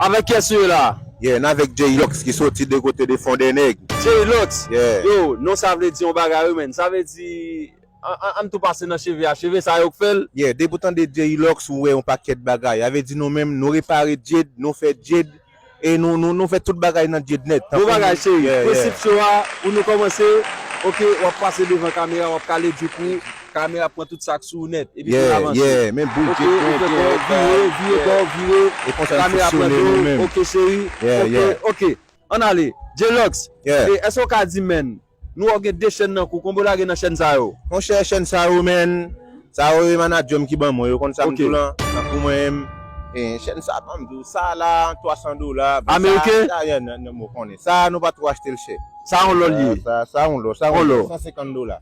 Avèk kyès ou ye la a? Yeah, n avèk J-Lox ki soti de kote de Fondènèg. J-Lox! Yeah. Yo, non sa vle di yon bagay wi menn. Sa vle di, an, an tou pase nan cheve a. Cheve sa a yo k fè l? Yeah, depi w tande J-Lox ou wè yon pakèt bagay. Sa vle di nou menm, nou repare djed, nou fè djed, e nou, nou, nou fè tout bagay nan djed nèt. Bon bagay cheri. Prensip show a, pou nou kòmanse, ok, w ap pase devan kamera, w ap kale djouk ou. Kamera pran tout sak sou ou nèt epi pou avanse. Yeah yeah men boul gen kwen gen yon vire vire bò vire e konsa nou fonksyone nou menm. Ok cheri ok ok ann ale J-Lux e èske ou ka di menn nou wè ou gen 2 chèn nan kou konbe ou lage nan chèn sa yo? Monchè chèn sa yo menn sa yo e manadjèm ki ban mwen yo konn sam di w lan nan kou mwen menm e chèn sa banm di w sa la 300 dola ameriken ou konnen sa nou pa twò achte l chè sa yon lò l ye sa yon lò sa yon lò 150 dola.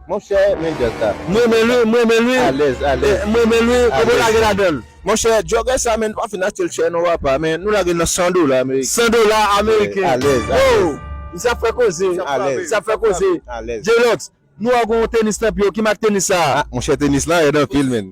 Monchè men delta alèz alèz alèz. Monchè jogger sa men nou pa fin achetel chè non apa men nou lagel nan 100 dola ameriken alèz alèz. Misye ap fè koze misye ap fè koze J-Lox nou wè w gen yon tenis nan pye w ki mak tenis sa? Monchè tenis lan rèd anpil menn.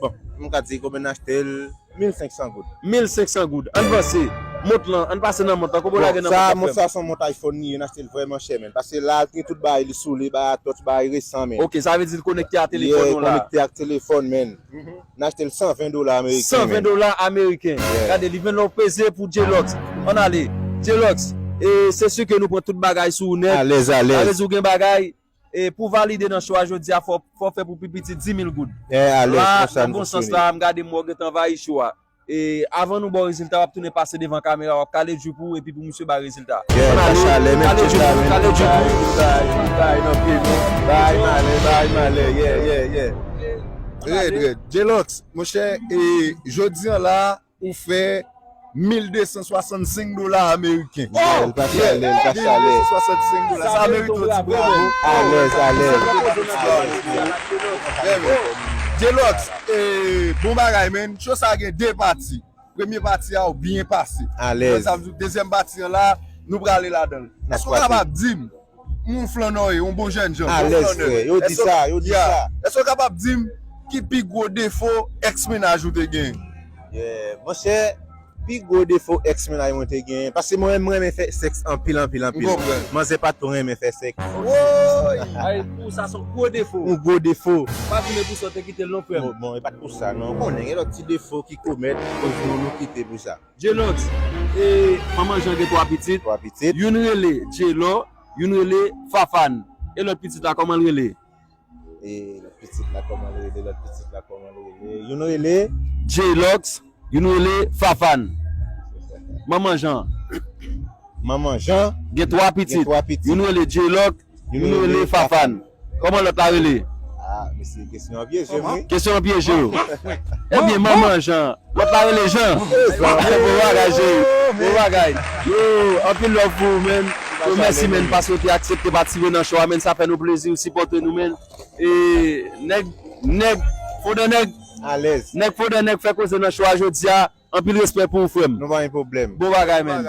Bon, m ka di konbyen n achte l, 1500 goud. 1500 goud. Ann vanse. Mont lan, ann pase nan mont lan. Konbyen w lage nan mont lan frè m? Bon, sa a, mont sa a s on mont iPhone li ye, n achte l vrèman chè menn. Pase la a, gen tout bagay li sou li, bagay a touch, bagay resan menn. Ok, sa vle di l konekte a telefòn ou la a? Ye, konekte ak telefòn menn. N achte l 120 dola ameriken menn. 120 dola ameriken. Gade, li vin la w peze pou Djelox. Ann ale. Djelox, e se si ke nou pran tout bagay sou ou nèt. Alèz, alèz. Sa vle di ou gen bagay? E pou valide nan cho a jodi a fò w fè pou pi piti 10.000 goud. La, nan bon sans la, m gade m wè w gentan anvayi cho a. E avan nou ba w rezilta w ap tounen pase devan kamera w ap kale djoup ou epi pou misye ba rezilta. An ale, kale djoup ou, kale djoup ou. Li bay, li bay nan pye nou. Bay malè, bay malè, yeah, yeah, yeah. Rèd, rèd. J-Lox, monchè, e jodi an la a. Ou fè 1265 dola ameriken. Wow! Sa se yon gwo salè. 1265 dola. Sa merite yon ti bravo. Alèz, alèz. Sa merite yon ti bravo. Trè byen. Djelòks, bon bagay menn. Show sa gen 2 pati. Premye pati a ou byen pase. Alèz. Sa vle di dezyèm pati an la, nou prale ladan l. Èske ou kapab di m, Moun Flanneur ye, yon bon jènjan, bon flannè. Yeah. Èske w kapab di m ki pi gwo defo ex mennaj ou te genyen? Yeah. Monchè, pi gwo defo ex mennaj mwen te genyen, paske mwen menm m renmen fè sèks anpil anpil anpil. M konprann. Manzè pa two renmen fè sèks. Wooyy! Ay, pou ou sa se yon gwo defo. Yon gwo defo. Pa di men pou sa w te kite l non frè m. Bon, bon, e pa t pou sa non. Ou konnen gen lòt ti defo ki komèt yon jou nou kite pou sa. Jelox e manman Jean gen 3 pitit, youn rele Jelo, youn rele Fafane. E lòt pitit la kòman l rele? E lòt pitit la kòman l rele? Lòt pitit la kòman l rele? Youn rele. Jelox, youn rele Fafane. Manman Jean. Manman Jean. Gen 3 pitit. Gen 3 pitit. Youn rele Jelox, Nou rele Fafane. Koman lot la rele? Ah mesye kesyon an pyeje m wi. Kesyon an pyeje w. Ebyen manman Jan. Lot la rele Jan. Bon bagay cheri. Bon bagay. Yo anpil love pou ou man. Yo mèsi man paske w te aksepte patisipe nan show a man sa fè nou plezi ou sipòte nou man. E nèg nèg fodè nèg Alèz. Nèg fodè nèg fè koze nan show a jodia. Anpil respè pou ou frè m. Nou pa gen pwoblèm. Bon bagay man.